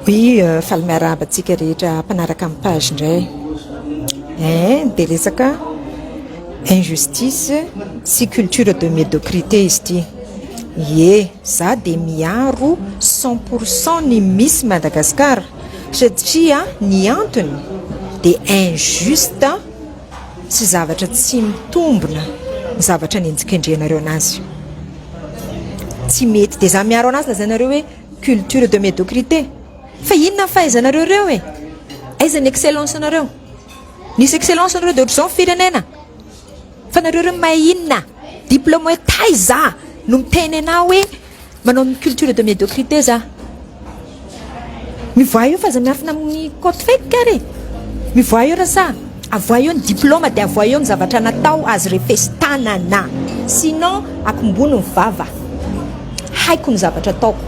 Oui, faly miarahaba antsika rehetra mpanaraka ny page indray. Hein, dia resaka injustice sy culture de médiocrité izy ity. Ie, za dia miaro cent pour cent ny misy Madagascar satria ny antony dia injuste sy zavatra tsy mitombina ny zavatra nenjikendrenareo anazy. Tsy mety, dia za miaro anazy lazainareo hoe. Culture de médiocrité. Fa inona ny fahaizanareo ireo e? Aiza ny excellence nareo? Nisy excellence nareo dia ohatr'izao ny firenena. Fa nareo ireo mahay inona? Diplôme hoe taiza no miteny anao hoe manao ny culture de médiocrité za? Mivoaha eo fa aza miafina amin'ny côte fake ary e. Mivoaha eo rasa. Avoahy eo ny diploma dia avoahy eo ny zavatra natao azy refes tanana sinon akombony ny vava haiko ny zavatra ataoko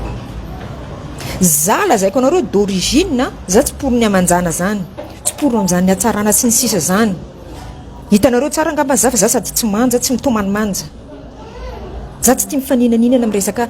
za lazaiko anareo d'origine za tsy pory ny amanjana zany tsy pory amzany hatsarana sy ny sisa zany hitanareo tsara angamba za fa za sady tsy manja tsy mitomany manja za tsy tia mifaninaninana am resaka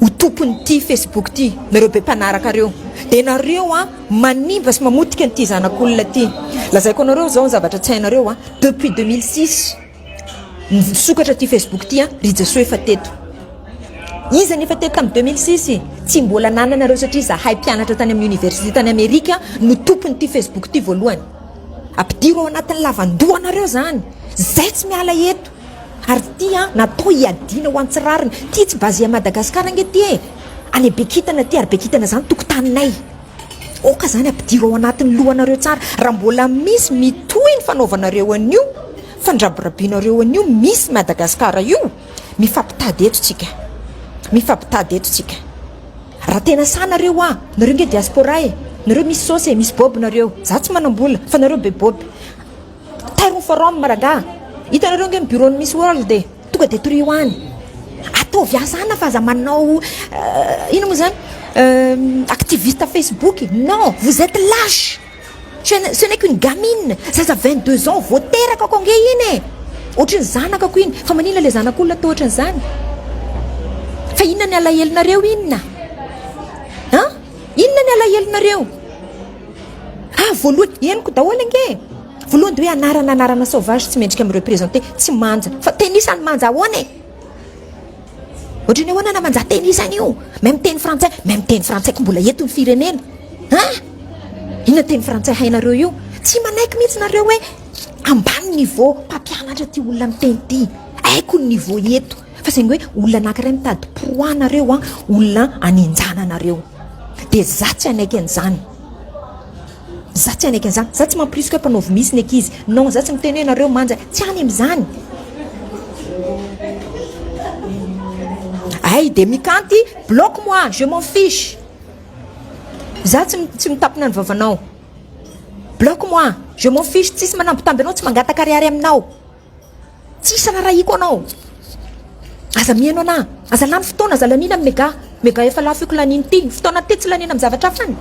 Ho tompon'ity Facebook ity nareo be mpanaraka reo dia nareo an manimba sy mamotika an'ity zanak'olona ity lazaiko anareo zao ny zavatra tsy hainareo an depuis deux mille six nisokatra ity Facebook ity an ry jesoa efa teto iza ny efa teto tamin'ny deux mille six tsy mbola nananareo satria zahay mpianatra tany amin'ny oniversite tany amerika no tompon'ity Facebook ity voalohany ampidiro ao anatin'ny lavandohanareo zany zay tsy miala eto Ary ty an natao hiadiana ho antsy rariny ty tsy base à Madagascar ange ty e! any be kintana ty ary be kintana zany tokotaninay aoka zany ampidiro ao anatiny lohanareo tsara raha mbola misy mitohy ny fanaovanareo anio fandrabirabinareo anio misy Madagascar io mifampitady eto tsika mifampitady eto tsika raha tena sahy nareo a nareo nge diaspora e nareo misy sosy e misy bob nareo za tsy manambola fa nareo be bob Tairo ny forum rangaha. Hitanareo ange ny bureau ny Miss World e. Tonga dia torio any. Ataovy asa ana fa aza manao inona moa izany activiste facebook e. Non, vous etes lache. Ce n'est qu'une gamine, zaza vingt deux ans vao teraka ako ange iny e. Ohatry ny zanakako iny. Fa maninona ilay zanak'olona atao ohatry an'izany? Fa inona ny alahelonareo inona? An? Inona ny alahelonareo? Ah voalohany, henoko daholo ange e! Voalohany dia hoe anarana anarana sauvage tsy mendrika mi representer, tsy manja. Fa teny isany manja ahoana e! Ohatry ny ahoana na manja teny isany io? Même teny frantsay, même teny frantsay ko mbola eto ny firenena. Ah! Inona teny frantsay hainareo io? Tsy manaiky mihitsy nareo hoe ambany niveau mpampianatra ty olona miteny ty. Haiko ny niveau eto. Fa saingy hoe olona anankiray mitady poids-nareo an, olona anenjana anareo. Dia za tsy hanaiky an'izany. Za tsy hanaiky an'izany. Za tsy mamporisika hoe mpanaovy misy ny ankizy. Non, za tsy miteny hoe nareo manja. Tsy any amin'izany. Hay dia mikanty, bloque moi, je m'en fiche. Za tsy tsy mitapina ny vavanao. Bloque moi, je m'en fiche, tsisy manambitamby anao, tsy mangataka ariary aminao. tsisy arahiko anao aza mihaino anah aza lany fotoana aza lanina ny mega mega efa lafo iko laniny ty fotoana te tsy lanina am zavatra afany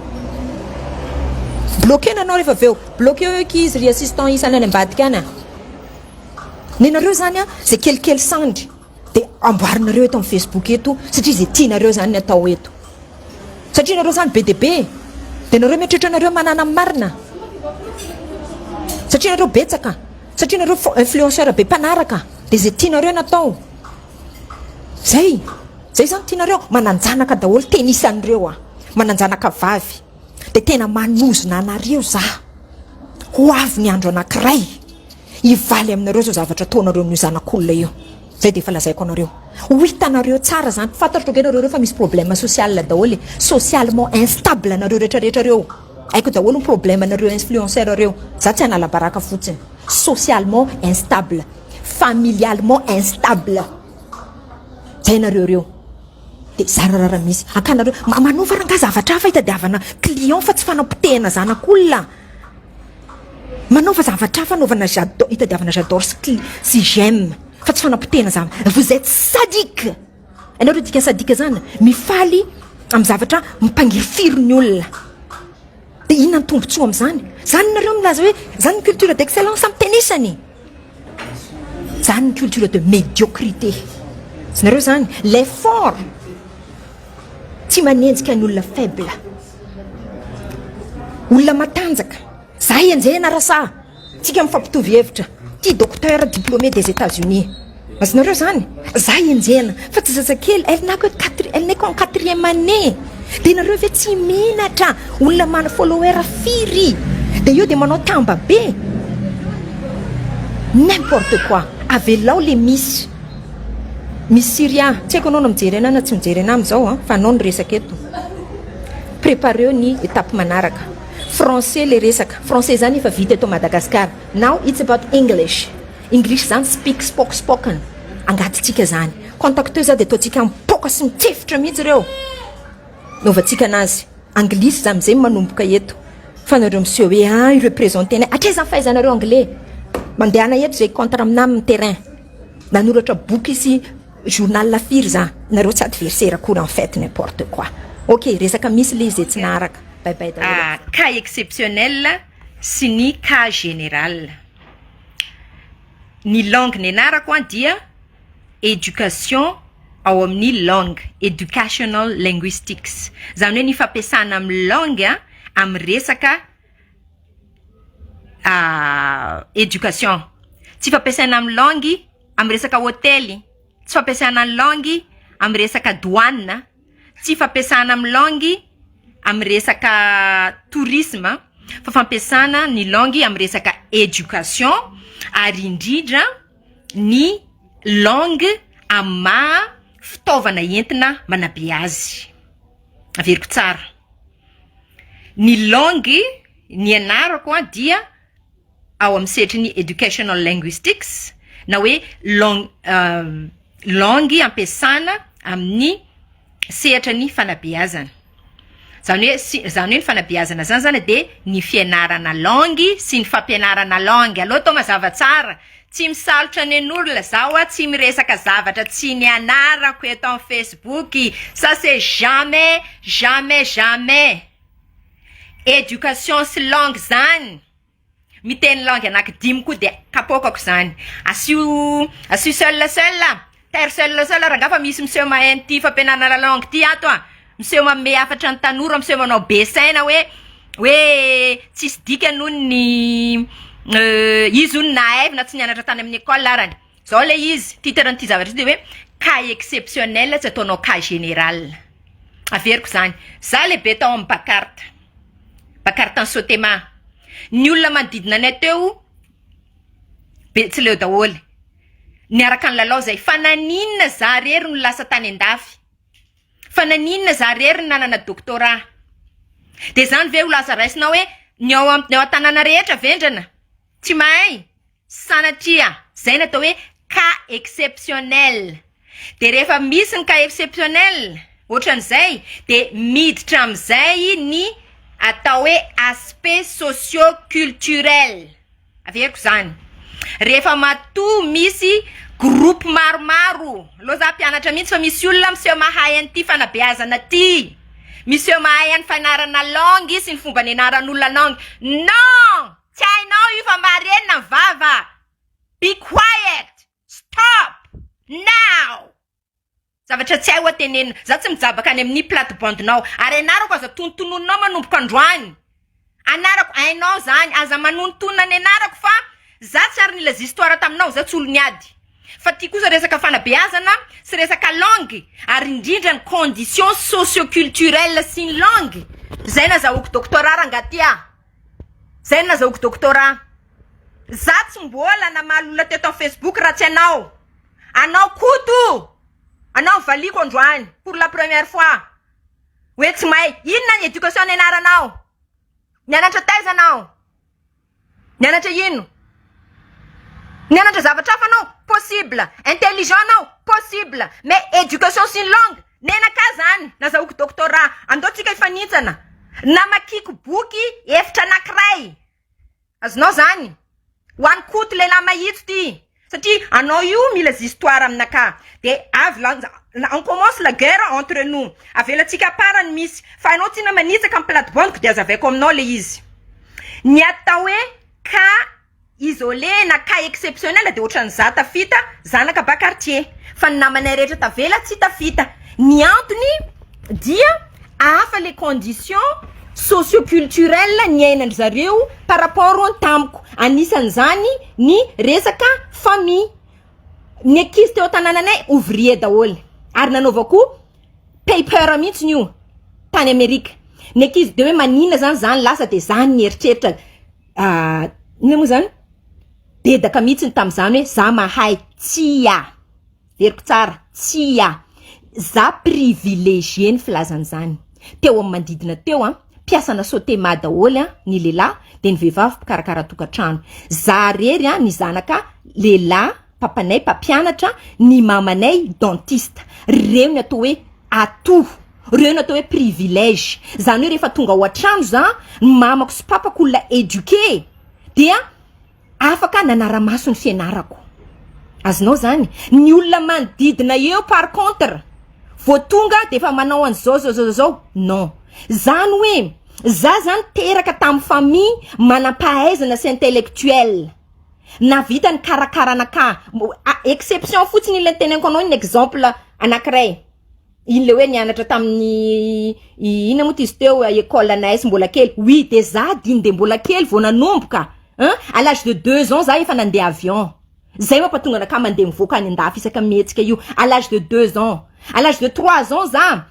bloquena anao rehefa aveo bloqueo eo ki izy ry assistant isany any ambadika any a nenareo zany a zay kelikely sandry Dia amboarinareo eto amin'ny Facebook eto satria izay tianareo izany ny atao eto. Satria nareo izany be dia be e. Dia nareo mieritreritra anareo manana ny marina. Satria nareo betsaka. Satria nareo influenceur be mpanaraka. Dia izay tianareo ny atao. Zay. Zay izany tianareo. Mananjanaka daholo tennis an'ireo aho. Mananjanaka vavy. Dia tena manozona anareo za. Ho avy ny andro anankiray. hivaly aminareo zao zavatra ataonareo amin'io zanak'olona io zay de efa lazaiko anareo ho hitanareo tsara zany fantatrao ge nareo reo fa misy problème social daholo e socialement instable anareo retraretra reo aiko daholo ny problème anareo influenceur reo za tsy analabaraka fotsiny socialement instable familialement instable zay nareo reo de zararara misy akanareo manova rangah zavatra hafa hitadiavana client fa tsy fanapotehana zanak'olona Manaova zavatra hafa anaovana j'adore itadiavana j'adore sy cli sy j'aime fa tsy fanapotehana zany vous etes sadique hainao le dikan'ny sadique zany mifaly amin'ny zavatra mipangirifiry ny olona de inona ny tombotsoa am'zany zany nareo milaza hoe zany ny culture d'excellence am'tenisany Zany ny culture de médiocrité. Tsy nareo zany? Les forts tsy manenjika ny olona faible. Olona matanjaka. Zahay enjehina rasa. Tsika mifampitovy hevitra. Ty docteur diplômé des Etats-Unis. Azonareo izany? Za enjehina fa tsy zazakely, elle n'a que quatre, elle n'est qu'en quatrième année. Dia nareo ve tsy menatra olona mana follower firy dia eo dia manao tamba be. N'importe quoi. Avelao le Miss Miss Syria. Tsy haiko anao no mijery anay na tsy mijery anay amin'izao an, fa anao no resaka eto. Prépareo ny étape manaraka. Français le resaka. Français izany efa vita eto Madagascar. Now it's about English. English zany speak spoke spoken angatintsika zany contacteux za de ataontsika mipoaka sy mitsefitra mihitsy reo novantsika anazy anglisy za amizay manomboka eto fa nareo miseho hoe a ah, ireo présente anay atraiza ny fahaizanareo anglais mandehana eto zay contre amina amin'ny terrain nanoratra boky sy journal la firy za nareo tsy adversaire akory en fait n'importe quoi ok resaka misy le izay tsy naharaka bye bye daholo ah, cas exceptionnel sy ny cas général Ny langue nianarako an dia education ao amin'ny langue, educational linguistics, izany hoe ny fampiasana amin'ny langue amin'ny resaka education, tsy fampiasana amin'ny langue amin'ny resaka hotely, tsy fampiasana ny langue amin'ny resaka douane. Tsy fampiasana amin'ny langue amin'ny resaka tourisme fa fampiasana ny langue amin'ny resaka education ary indrindra ny langue amin'ny maha fitaovana entina manabeazy. Averiko tsara, ny langue nianarako dia ao amin'ny sehatry ny educational linguistics na hoe lang- langue ampiasana amin'ny sehatra ny fanabeazana. Izany hoe si- izany hoe ny fanabeazana izany izany dia ny fianarana langue sy ny fampianarana langue. Aleo atao mazava tsara. Tsy misalotra nen'olona za ho'a, tsy miresaka zavatra tsy nianarako eto amin'ny Facebook. Ça c'est jamais, jamais, jamais. Education sy langue zany miteny langue anaky dimy koa dia kapoakako zany asio asio seul seul a taire seul seul a rangah fa misy miseho mahay an'ity fampianarana lalangue ity ato a miseho manome hafatra ny tanora miseho manao be saina hoe hoe tsisy dikany hono ny izy hono nahay na tsy nianatra tany amin'ny ecole arany. Zao le izy, titre an'ity zavatra ity de hoe cas exceptionnel tsy ataonao cas général. Averiko zany. Za lehibe tao amin'ny Bacart. Bacart any Sotema. Ny olona manodidina anay teo Betsileo daholo. Niaraka nilalao zay fa naninona za rery no lasa tany an-dafy? Fa naninona za rery no nanana doctorat? De zany ve ho lasa raisinao hoe ny ao amin'ny tanàna rehetra vendrana? Tsy mahay? Sanatria zay no atao hoe cas exceptionnel. Dia rehefa misy ny cas exceptionnel ohatran'izay dia miditra amin'izay ny atao hoe aspect socio culturel. Averiko izany. Rehefa matoa misy groupe maromaro, aleo za mpianatra mihitsy fa misy olona miseho mahay an'ity fanabeazana ity, miseho mahay an'ny fianarana langue sy ny fomba nianaran'olona langue. Non! Tsy hainao io fa marenina ny vava a! Be quiet! Stop! Now! Zavatra tsy hay hoa tenenina. Za tsy mijabaka any amin'ny plate bande-nao. Ary anarako aza tonontononinao manomboka androany. Anarako hainao zany. Aza manonontonona ny anarako fa za tsy ary nilaz histoire taminao, za tsy olon'ny ady. Fa ty kosa resaka fanabeazana sy resaka langue ary indrindra ny conditions socio-culturelles sy ny langue. Zay nazahoako doctorat rangahy ty ah! Zay no nazahoako doctorat. Za tsy mbola namaly olona teto am facebook raha tsy anao. Anao Koto, anao no valiako androany pour la première fois. Hoe tsy mahay. Inona ny education nianaranao? Nianatra taiza anao? Nianatra ino? Nianatra zavatra hafa anao? Possible. Intelligent anao? Possible. Mais education sy ny langue? Nenakah zany nazahoako doctorat. Andao tsika hifanintsana. Namakiako boky efitra anakiray. Azonao zany. Ho an'i Koto lehilahy mahitsy ty. Satria anao io mila zistoire aminakah. De avy lanja on commence la guerre entre nous. Avelatsika à part ny misy. Fa anao tsina manitsaka ny plate bande-ko de azavaiko aminao le izy. Ny atao hoe cas. Isolé na cas exceptionnel dia ohatran'ny za tafita, zanaka ba quartier. Fa ny namanay rehetra tavela tsy tafita. Ny antony dia hafa le condition socio culturel niainan-dry zareo par rapport ny tamiko. Anisan'izany ny resaka famille. Ny ankizy teo an-tanananay ouvrier daholo ary nanaovako paper mihitsy io tany Amerika. Ny ankizy dia hoe maninona zany za no lasa dia za no nieritreritra. inona moa zany? Dedaka mihitsiny tamin'izany hoe za mahay, tsia, heveriko tsara, tsia, za privilegié ny filazana izany, teo amin'ny manodidina teo an, mpiasana sotema daholo an, ny lehilahy, dia ny vehivavy mpikarakara tokantrano, za irery an, ny zanaka lehilahy. Papanay mpampianatra, ny mamanay dentiste. Reo ny atao hoe atout, reo ny atao hoe privilège. Zany hoe rehefa tonga ao an-trano za, ny mamako sy papako olona éduqué dia afaka nanara-maso ny fianarako. Azonao zany? Ny olona manodidina eo par contre, vao tonga dia efa manao an'izao zao zao zao, non. Zany hoe za zany teraka tamin'ny famille manam-pahaizana sy intellectuelle. Nahavita nikarakara an'aka exception fotsiny iny le niteneniko anao iny exemple anakiray iny le hoe nianatra tamin'ny inona moa ty izy teo école anay izy mbola kely oui de za diny de mbola kely vao nanomboka a à l'âge de deux ans za efa nandeha avion zay mampatonga anakahy mandeha mivoaka any an-dafy isaka mihetsika io à l'âge de deux ans à l'âge de trois ans za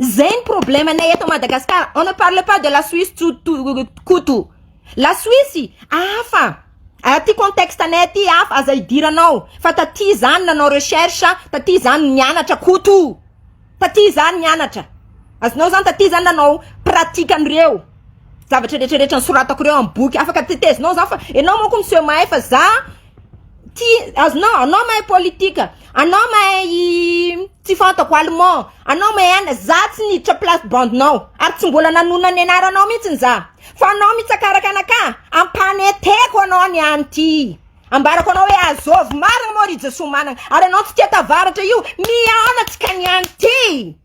Zay ny problème anay eto Madagascar on ne parle pas de la Suisse Koto la Suisse hafa aty contexte anay aty hafa aza hidiranao fa taty zany nanao recherche taty zany nianatra Koto taty zany nianatra azonao zany taty zany nanao pratique an'ireo zavatra retraretra nosoratako reo amin'ny boky afaka tetezinao zany fa enao manko miseho mahay fa za Tia, azonao, anao mahay politique, anao mahay tsy fantako allemand, anao mahay any, za tsy niditra place bande-nao ary tsy mbola nanonona ny anaranao mihitsy za fa anao mitsakaraka anakah, ampaneteko anao ny any ty, ambarako anao hoe azôvy marina moa ry Jesoa manana ary anao tsy tia tavaratra io mihaona tsika ny any ty.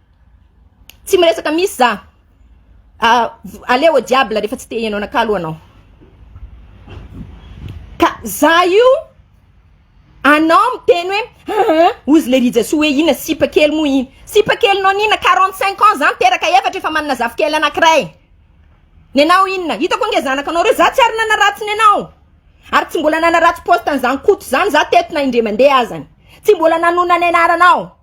Tsy miresaka misy za. Ah, allez au diable rehefa tsy te hihaino anakah aloha anao. Ka za io anao miteny hoe aa ozy le rijasoa hoe inona sipa kely moa iny. Sipa kelinao n'inona? Quarante cinq ans za miteraka efatra efa manana zafikely anankiray. Nenao inona? Hitako ange zanakanao reo za tsy ary nanaratsy nenao. Ary tsy mbola nanaratsy poste an'izany Koto izany za teto na indray mandeha azany. Tsy mbola nanonona ny anaranao.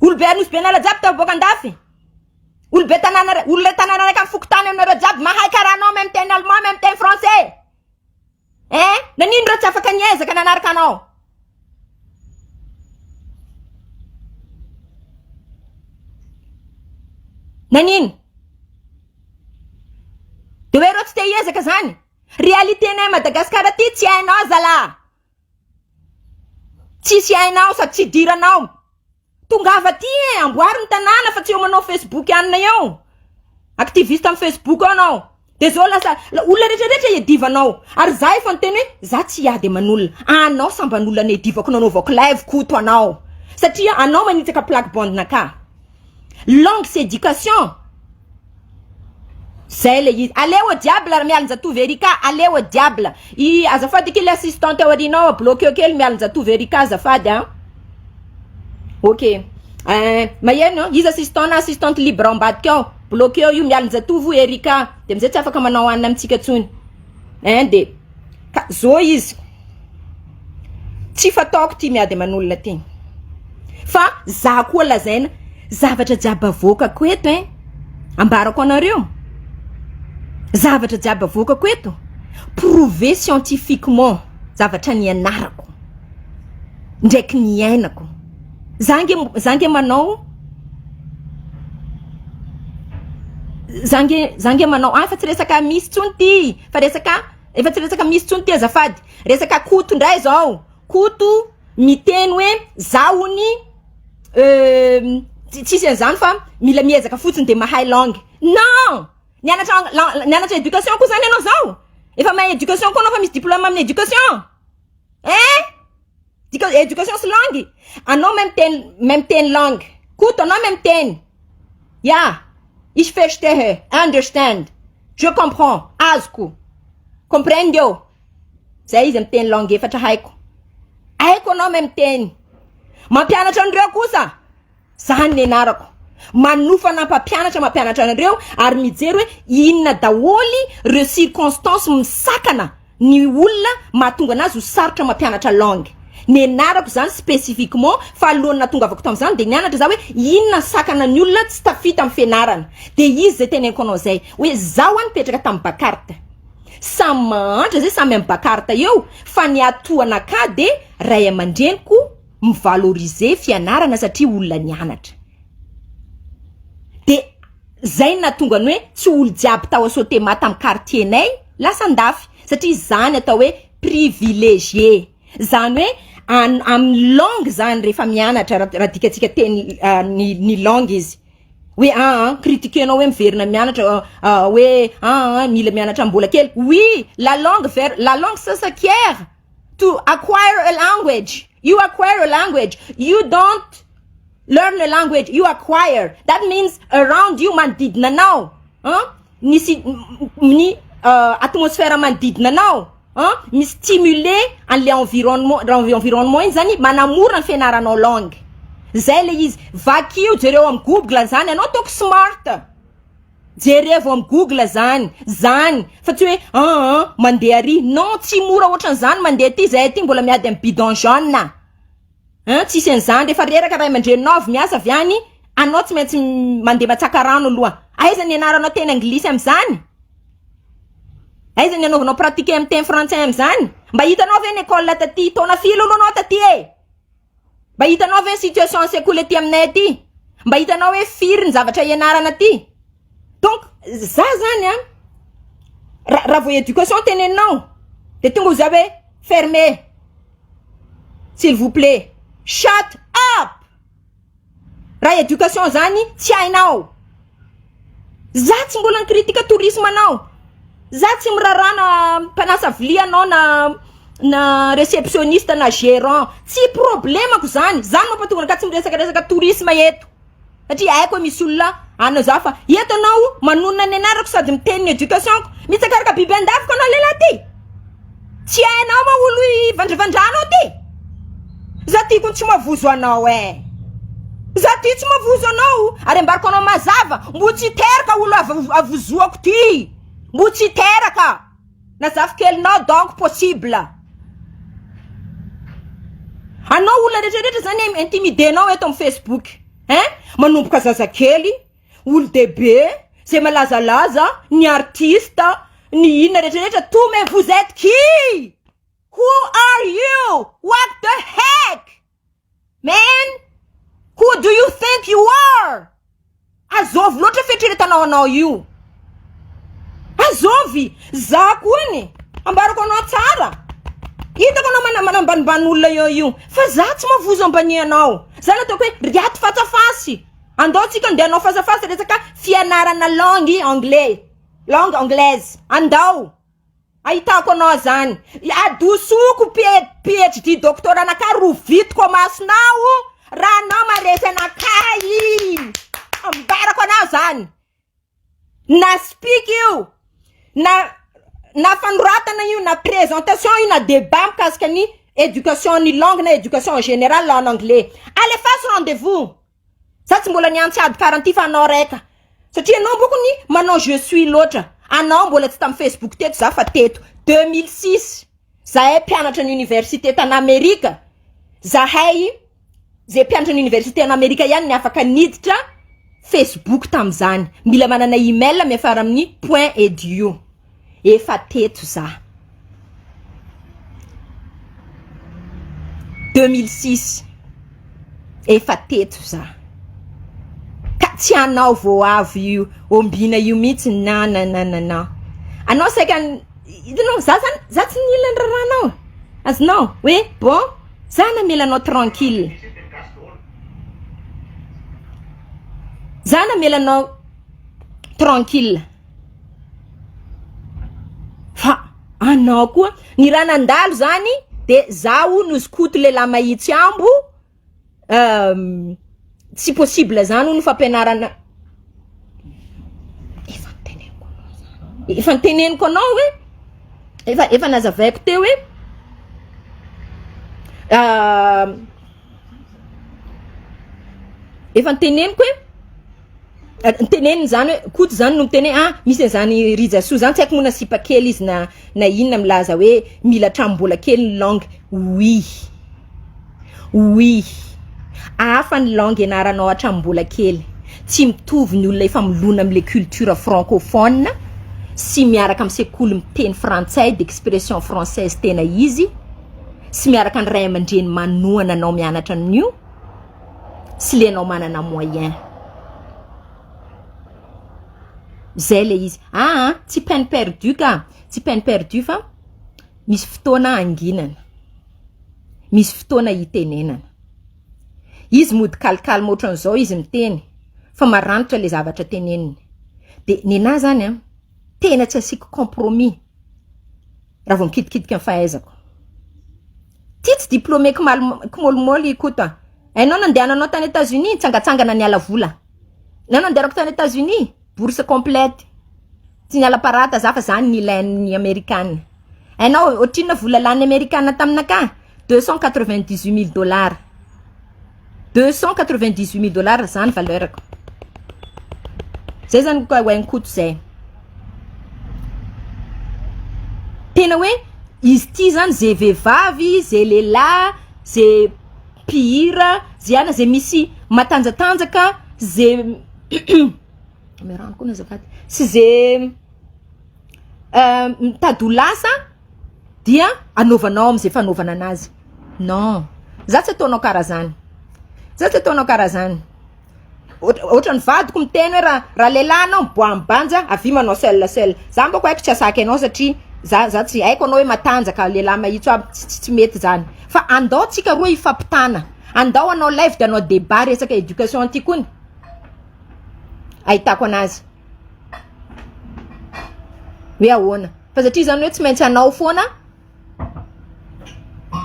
Olobe Anosibenala jiaby tao boaka andafy. Olobe tanàna ra- olona tanàna araiky amin'ny fokontany aminareo jiaby mahay karaha anao même teny allemand même teny français. Eh, nanino ireo tsy afaka niezaka nanaraka anao? Nanino? De hoe ireo tsy te hiezaka zany? Réalité-nay à Madagascar aty tsy hainao zalaha. Tsisy hainao sady tsy idiranao. Tongava aty e, amboary ny tanàna fa tsy eo manao facebook anona eo. Activiste am facebook ao anao. De zao lasa olona rehetra rehetra iadivanao. Ary za efa niteny hoe za tsy hiady aman'olona. Anao samban'olona niadivako nanaovako live koto anao. Satria anao manitsaka plaque bande-na ka. Langues education Zay le izy Aleo au diable ry Mialinjatovo Erika Aleo au diable I azafady akia le assistante ao aorianao a bloqueo kely Mialinjatovo Erika azafady a Ok eh, maheno iza assistant na assistante libre ao ambadika ao Bloqueo io Mialinjatovo Erika de amizay tsy afaka manao anina amintsika tsony eh de. Ka zo izy, tsy fataoko ity miady aman'olona ity fa za koa lazaina zavatra jiaby avoakako eto ein! Ambarako anareo zavatra jiaby avoakako eto prouver scientifiquement zavatra nianarako ndraiky niainako. Za nge za nge manao za nge za nge manao, ah fa tsy resaka misy tsony ity, Fa resaka efa tsy resaka misy tsony ty azafady. Resaka Koto ndray zao. Koto miteny hoe za ony tsisy an'izany fa mila miezaka fotsiny de mahay langue. Non! Nianatra nianatra éducation koa zany ianao zao? Efa mahay éducation koa anao fa misy diplôme amin'ny éducation? Eh! Education sy langue? Anao mahay miteny mahay miteny langue. Koto anao mahay miteny. Yeah. Ich verstehe. I understand. Je comprends. Azoko. Comprendo. Zay izy miteny langue efatra haiko. Haiko anao mahay miteny. Mampianatra an'ireo kosa. Zany nianarako. Manofa na mpampianatra mampianatra anareo ary mijery hoe inona daholo reo circonstances misakana ny olona mahatonga anazy ho sarotra mampianatra langue. Nianarako zany spécifiquement fa alohan'ny nahatongavako tamzany de nianatra za hoe inona sakana ny olona tsy tafita am fianarana. De izy zay tenenko anao zay hoe zaho a nipetraka tam Bacart. Samy mahantra zay samy am Bacart eo fa ny hatohanakah de ray aman-dreniko, mi-valoriser fianarana satria olona nianatra. De zay no nahatonga ny hoe tsy olo jiaby tao Sotema tam quartier nay lasa andafy satria zany atao hoe privilegié zany hoe an- amin'ny langue zany refa mianatra ra- raha dikantsika teny ny ny langue izy hoe aa critiquer-nao hoe miverina mianatra hoe aa mila mianatra mbola kely oui la langue vers la langue ce s'acquiert to acquire a language you acquire a language you don't learn a language you acquire that means around you manodidina anao an nisy ny atmosphère manodidina anao an mi stimuler an'le environnement environnement iny zany manamora ny fianaranao langue zay le izy vakio jereo am google zany anao ataoko smart Jerevo am google zany zany fa tsy hoe an an mandeha ary non tsy mora otran'izany mandeha aty zahay aty mbola miady am bidon jaune a an tsisy an'izany refa reraka ray aman-dreninao avy miasa avy any anao tsy maintsy mandeha matsaka rano aloha aiza nianaranao teny anglisy am'izany aiza nianaovanao pratiquer am teny frantsay am'izany mba hitanao ve ny ecole taty taona firy aloha anao taty e. Mba hitanao ve ny situation ny sekoly aty aminay aty? Mba hitanao hoe firy ny zavatra ianarana aty? Donc za zany an, raha vao éducation teneninao de tonga za hoe fermez s'il vous plait, shut up! Raha éducation zany tsy hainao. Za tsy mbola ni-critique tourisme anao. Za tsy miraharaha na mpanasa vilia anao na na réceptionniste na gérant. Tsy problème-ko zany. Za no mampatonga anao ka tsy miresaka resaka tourisme eto. Satria haiko hoe misy olona any za fa eto anao manonona ny anarako sady miteny ny éducation-ko. Mitsakaraka biby an-dafiko anao lehilahy ty. Tsy hainao ma olo hivandravandranao ty? Za ty ko tsy mavozo anao eh. Za ty tsy mavozo anao ary ambariko anao mazava mbo tsy hiteraka olo av- avozoako ty. Mbo tsy hiteraka. Na zafy kelinao donc possible. Anao olona retraretra zany intimider-nao eto am Facebook eh. Manomboka zazakely. Olodehibe zay malazalaza ny artista ny inona rehetra rehetra to mais vous etes qui who are you what the heck man who do you think you are azôvy loatra fieritreretanao anao io azôvy za ko any ambarako anao tsara hitako anao mana manambanimbany olona eo io fa za tsy mavozo ambanianao za nataoko hoe ry ato fatsafasy Andao tsika ndeha hanao face à face resaka fianarana langue anglais langue anglaise andao ahitako anao zany adosoko phd doctorat anakah rovitiko amasonao raha anao maresy anakah ambarako anao zany Na speak io, na na fanoratana io, na présentation io, na débat mikasika ny éducation ny langue na éducation en général en anglais. Alefaso rendez-vous! Za tsy mbola niantsy ady karanty fa anao raika. Satria anao boko ny manao je suis loatra. Anao mbola tsy tam Facebook teto za fa teto. Deux mille six. Zahay mpianatra ny université tany Amerika, zahay ze mpianatra ny université any Amerika ihany ny afaka niditra Facebook tamin'izany, mila manana email miafara amin'ny point edu, efa teto za deux mille six, efa teto za ka tsy anao vao avy io ombiana io mihitsy na na na na na, anao saika. Hitanao, za zany, za tsy nila ny raharahanao, azonao, hoe bon, za namela anao tranquille, za namela anao tranquille, fa anao koa, ny raha nandalo zany de za hono skoto lehilahy mahitsy ambo, tsy possible zany hono fampianarana efa noteneniko anao zany efa noteneniko anao hoe efa efa nazavaiko teo hoe efa noteneniko hoe. Teneniny izany hoe Koto izany no miteny hoe ah misy an'izany Rijasoa izany tsy haiko moa na sipa kely izy na na inona milaza hoe mila hatramin'mbola kely ny langue. Oui, oui, hafa ny langue ianaranao hatramin'ny mbola kely. Tsy mitovy ny olona efa milona amin'ny le culture francophone sy miaraka amin'ny sekoly miteny frantsay d'expression française tena izy sy miaraka ny ray aman-dreny manohana anao mianatra an'io. tsy le anao manana moyen zay le izy aa tsy peine perdue ka tsy peine perdue fa misy fotoana hanginana misy fotoana hitenenana izy mody kalkalma ohatran'izao izy miteny fa maranitra le zavatra teneniny de nenahy zany an tena tsy asiako compromis raha vao mikitikitika ny fahaizako. Ity tsy diplômé kimôlimôly i Koto an! Hainao nandehananao tany Etazonia, nitsangatsangana niala vola. Ny ahy nandehanako tany Etazonia, bourse complète. Tsy niala parata za fa za no nilain'ny Amerikana. Hainao ohatrinona vola lanin'ny Amerikana taminakahy? Deux cent quatre-vingt-dix-huit mille dollars. Deux cent quatre vingt dix huit mille dollars zany valeur ko zay zany ko oe koto zay tena oe izy ity zany ze vevavy ze lelah ze mpihira ze ana ze misy matanjatanjaka ze sy ze mitady ho lasa dia anaovanao amizay fanaovana anazy non za tsy ataonao kara zany za tsy ataonao kara zany otrany vadiko miteny hoe ra ra lelah anao miboaha am banja avia manao seul seul za mba ko aiko tsy asaky anao satria za za tsy aiko anao hoe matanjaka lelah mahitso aby ts tsy mety zany fa andao tsika roa hifampitana andao hanao live de hanao debat resaka education ty kony ahitako anazy hoe ahoana fa satria zany hoe tsy maintsy anao foana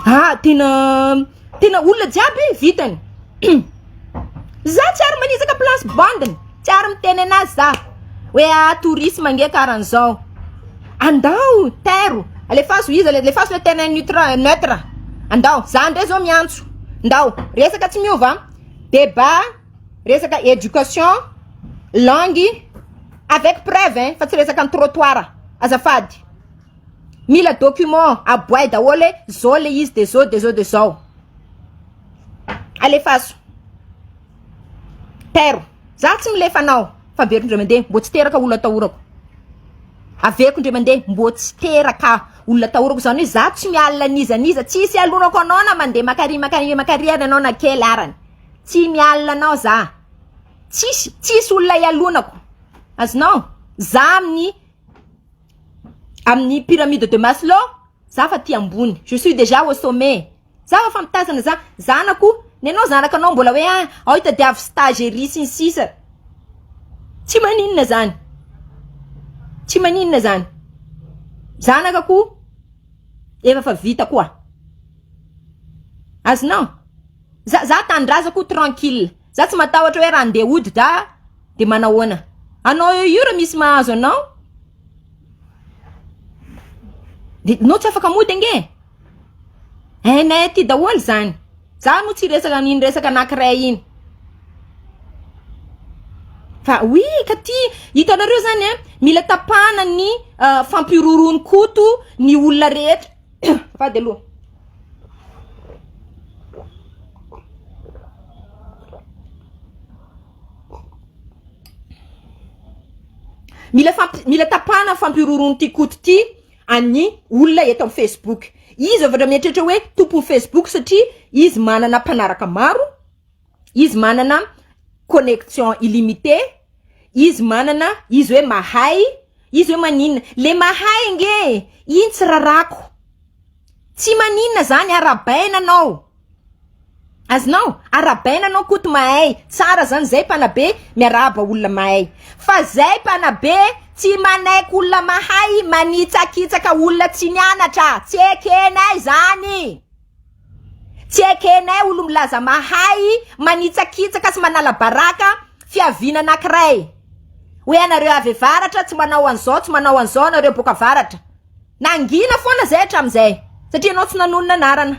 a ah, tena tena olona jiaby vitany za tsy ary manizaka place bandiny tsy ary miteny anazy za hoe a ah, tourisme nge karan'izao andao tairo alefaso izy alefaso le tena neutre neutre andao za ndray zao miantso ndao resaka tsy miova deba Resaka education, langue, avec preuve hein, fa tsy resaka ny trottoir, azafady. Mila document, aboay daholo hoe zao le izy de zao de zao de zao. Alefaso. Pero, za tsy milefa anao, fa averiko ndray mandeha, mbo tsy teraka olona atahorako. Averiko ndray mandeha, mbo tsy teraka olona atahorako, zany hoe za tsy miala an'iza an'iza, tsisy alonako anao na mandeha makary makary makary ary anao na kely arany. Tsy mialona anao za. Tsisy tsisy olona ialonako. Azonao? Za amin'ny amin'ny pyramide de Maslow, za fa aty ambony. Je suis dejà au sommet. Za fa mitazana za. Zanako, nenao zanakanao mbola hoe ah, ao itadiavo stage ery sy ny sisa. Tsy maninona zany. Tsy maninona zany. Zanaka ko efa fa vita koa. Azonao? Za za tanindrazako tranquille. Za tsy matahotra hoe raha ndeha hody da de manahoana. Anao eo io raha misy mahazo anao de nao tsy afaka mody ange e. Hainay aty daholo zany. Za no tsy resaka an'iny resaka anankiray iny. Fa oui ka ty hitanareo zany a mila tapahana ny fampihorohoroan'i Koto ny olona rehetra. Fady aloha. Mila fampi- mila tapahana fampihorohoroan'ity koto ity an'ny olona eto amin'ny Facebook. Izy avy mieritreritra hoe tompon'ny Facebook satria izy manana mpanaraka maro, Izy manana connection illimité, izy manana, izy hoe mahay, izy hoe maninona. Le mahay nge e! Iny tsy rarako. Tsy maninona zany, arabaina anao. Azonao? Arabaina anao Koto mahay. Tsara zany zay mpanabe miarahaba olona mahay. Fa zay mpanabe tsy manaiky olona mahay, manitsakitsaka olona tsy nianatra. Tsy ekenay zany. Tsy ekenay olo-milaza mahay manitsakitsaka sy manala baraka fiaviana anankiray. Hoe anareo avy avaratra tsy manao an'izao, tsy manao an'izao anareo boaka avaratra. Nangina foana izay hatramin'izay satria ianao tsy nanonona anarana.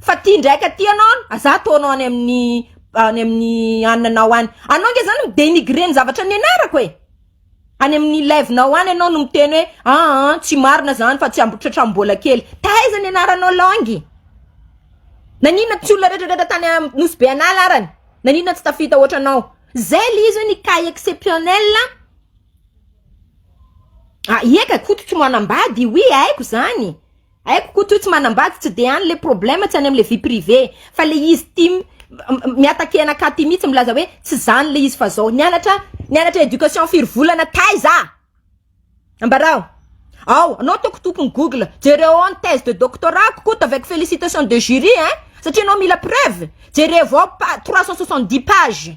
Fa ity indray ka ity ianao, aza ataonao any amin'ny any amin'ny anona anao any. Anao ange izany mi-denigrer ny zavatra nianarako e! Any amin'ny live nao any ianao no miteny hoe aa tsy marina zany fa tsy ambotratra mbola kely. Taiza ny anaranao langy? Nanina tsy olona retraretra tany nosy be anala arany? Nanina tsy tafita ohatra anao? Zay le izy hoe ny cas exceptionnel a. Ah ieka koto tsy manambady oui aiko zany. Haiko Koto io tsy manambady tsy de any le problème tsy any amle vie privée fa le izy tim miatakee anakahy ty mitsy milaza hoe tsy zany le izy fa zao nianatra nianatra éducation firy volana taiza ambarao ao anao ataoko tokony google jereo ao ny thèse de doctorat ko Koto avec félicitation de jury hein satria anao mila preuve jerevo ao pa- trois cent soixante dix page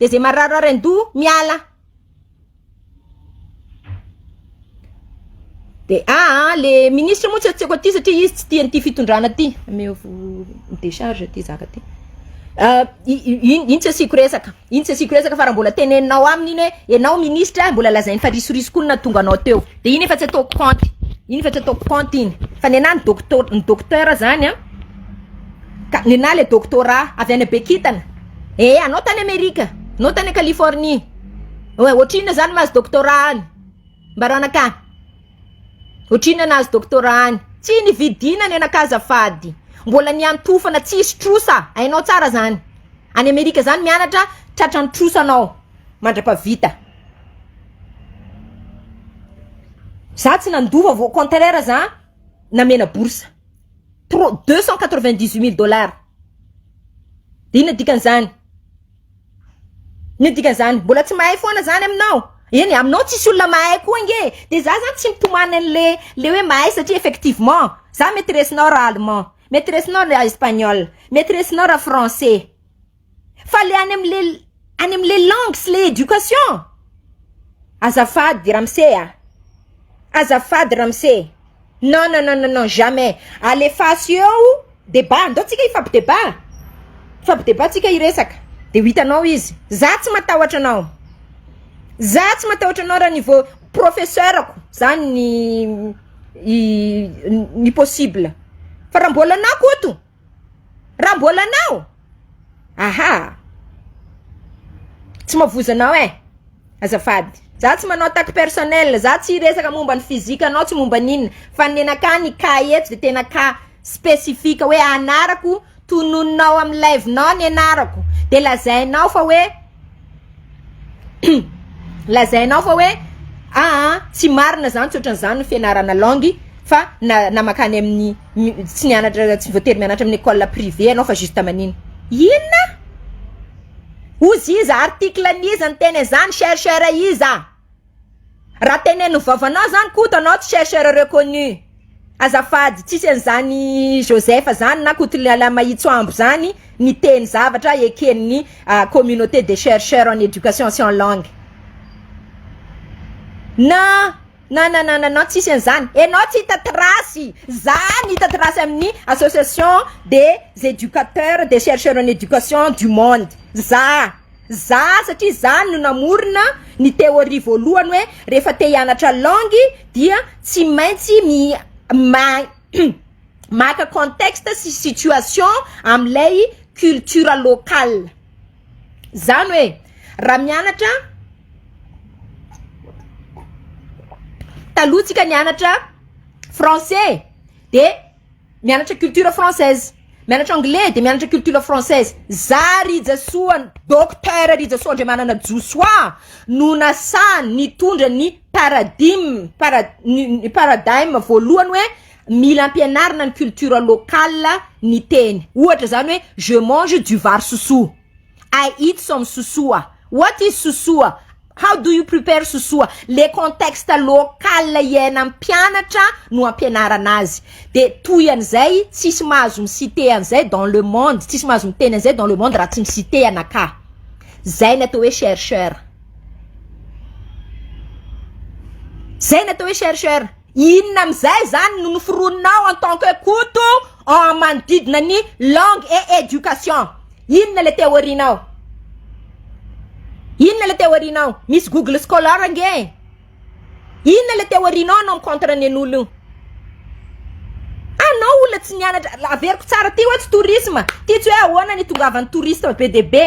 de ze marary andoha miala de aa ah, le ministre moa tsy tsy aiko aty satria izy tsy tia an'ity fitondrana ty ameovo décharge ty zaka ty ah, iny tsy asiako resaka iny tsy asiako resaka fa raha mbola teneninao aminy iny hoe enao ministre mbola lazainy fa risorisoka ony nahatonga anao teo de iny efa tsy ataoko compte iny efa tsy ataoko compte iny fa ny anahy ny docto- ny docteur zany an ah, ka ny anahy le doctorat avy any bekintana Eh anao tany Amerika, anao tany Californie, oe ohatrinona zany mahazo doctorat any? Mbaro anakah, ohatrinona nahazo doctorat any? Tsy nividiana ny anakah azafady, mbola niantofana tsisy trosa, hainao tsara zany, any Amerika zany mianatra tratran'ny trosa anao mandrapavita. Za tsy nandova vao au contraire za namena bourse, trois- deux cent quatre-vingt-dix-huit mille dollars. Inona dikan'izany? Inona dikan'izany? Mbola tsy mahay foana zany aminao? Eny aminao tsisy olona mahay koa ange e! Dia za zany tsy mitomany an'le le hoe mahay satria effectivement za mety resinao raha allemand, mety resinao raha espagnol, mety resinao raha français fa le any am'le any am'le langue sy le éducation azafady ramose a! Azafady ramose! Non non non non jamais alefaso eo debat andao tsika hifapi debat hifapi debat tsika hiresaka de ho hitanao izy za tsy matahotra anao za tsy matahotra anao raha niveau professeur ko zany ny possible fa raha mbola anao Koto. Raha mbola anao aha tsy mavozo anao eh azafady za tsy manao attaque personnelle za tsy hiresaka momba ny physique anao tsy momba ny inona fa ny nenakah ny cas eto de tena cas specifique hoe anarako tononinao amin'ny live-nao ny anarako de lazainao fa hoe. Lazainao fa hoe aa tsy marina zany tsy otran'izany ny fianarana langue fa na na makany amin'ny tsy nianatra tsy voatery mianatra amin'ny école privée ianao fa juste manina inona? Oziza article an'iza ny teny an'izany chercheur iza? Raha teneno vavanao zany Koto anao tsy chercheur reconnu azafady tsisy an'izany Joseph zany na Koto Lehilahy Mahitso Ambo zany niteny zavatra eken'ny communauté des chercheurs en éducation sy en langue na na na na na tsisy an'izany enao tsy hita trace za no hita trace amin'ny association des éducateurs des chercheurs en éducation du monde za. Za satria zany no namorona ny theorie voalohany hoe rehefa te hianatra langue dia tsy maintsy mi maka contexte sy situation amin'ilay culture locale. Zany hoe raha mianatra taloha tsika nianatra français de. Mianatra culture française. Mianatra anglais de mianatra culture française. Za Rijasoa Docteur Rijasoa Andriamanana Josoa no nasaha nitondra ny paradigme para ny paradigme voalohany hoe mila ampianarina ny culture locale ny teny. Ohatra zany hoe je mange du vary sosoa. I eat some sosoa. What is sosoa? How do you prepare sosoa? Le contexte local iainan'ny mpianatra no ampianarana azy. De toy an'izay tsisy mahazo mi-citer an'izay dans le monde, tsisy mahazo miteny an'izay dans le monde raha tsy mi-citer anakah. Zay ny atao hoe chercheur. Zay ny atao hoe chercheur. Inona amin'izay zany no noforoninao en tant que Koto en manodidina ny langue et education? Inona le théorie-nao? Inona le théorie-nao? Misy Google Scholar ange e! Inona le théorie-nao anao mi-contre ny an'olo io? Anao olona tsy nianatra, averiko tsara, ty hoe tsy tourisme, ty tsy hoe ahoana ny itongavan'ny touristes be dia be.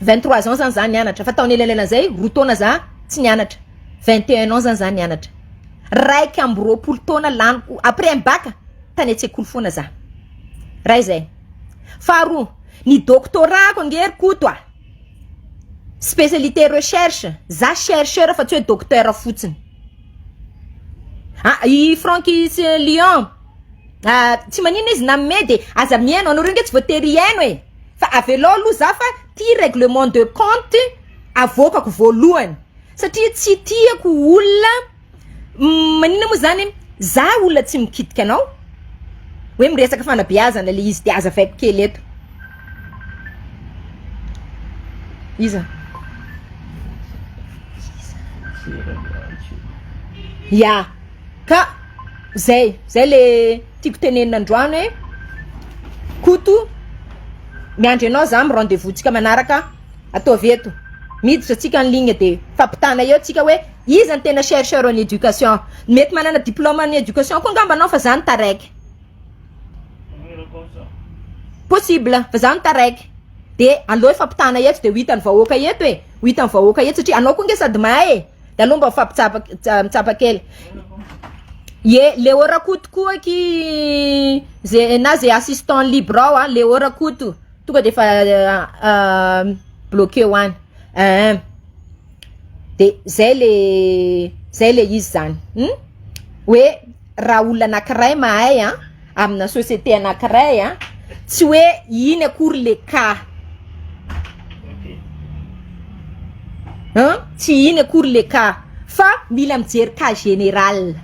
vingt trois ans zany za nianatra fa tao anelanelan zay roa taona za tsy nianatra vingt et un ans zany za nianatra raika amby roapolo taona laniko après ny bac tany an-tsekoly foana za ray zay faharoa ny doctorat-ko ange ry koto a specialite recherche za chercheur fa tsy hoe docteur fotsiny ah i Franckis Lion ah tsy maninona izy nanome de aza mihaino anareo nge tsy voatery hihaino e Fa avelao aloha za fa ty règlement de compte avoakako voalohany satria tsy tiako olona manina moa zany za olona tsy mikitika anao hoe miresaka fanabeazana le izy de azavaiko kely eto iza ya ka zay zay le tiako tenenina androany hoe Koto miandry anao za amin'ny rendez vous tsika manaraka ataovy eto miditra tsika en ligne de fampitana eo tsika hoe iza no tena chercheur en éducation mety manana diplôme en éducation koa angamba anao fa za no taraiky possible fa za no taraiky de aleo fampitana eto de ho hitan'ny vahoaka eto e ho hitan'ny vahoaka eto satria anao koa nge sady mahay e Ianao mba mifampitsapa mitsapa kely. Ye, Leo Rakoto koa ki ze na ze assistant libre ao ah, Leo Rakoto. Tonga de fa bloqué ho any. Eh. De zay le zay le izy zany. Hoe raha olona anakiray mahay an. amina société anakiray a tsy hoe iny akory le cas a tsy iny akory le cas fa mila mijery cas général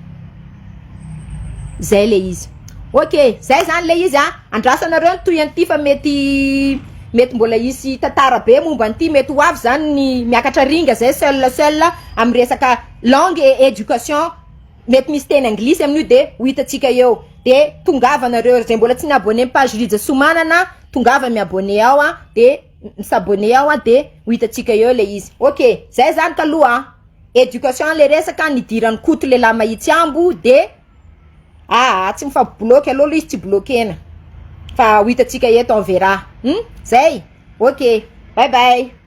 zay le izy ok zay zany le izy a andrasanareo ny tohian'ity fa mety mety mbola hisy tantara be momba an'ity mety ho avy zany ny miakatra ringa zay seul seul am resaka langue et éducation Mety misy teny anglisy amin'io de ho hitantsika eo. De tongava nareo zay mbola tsy ni abonne ny page Rija Somanana tongava mi abonne ao a de mi s'abonne ao a de ho hitantsika eo le izy ok zay zany kaloha a education le resaka nidiran'i Koto lehilahy mahitsy ambo de aa tsy mifampibloque aleo aloha izy tsy bloquena fa ho hitantsika eto on verra hum zay ok bye bye.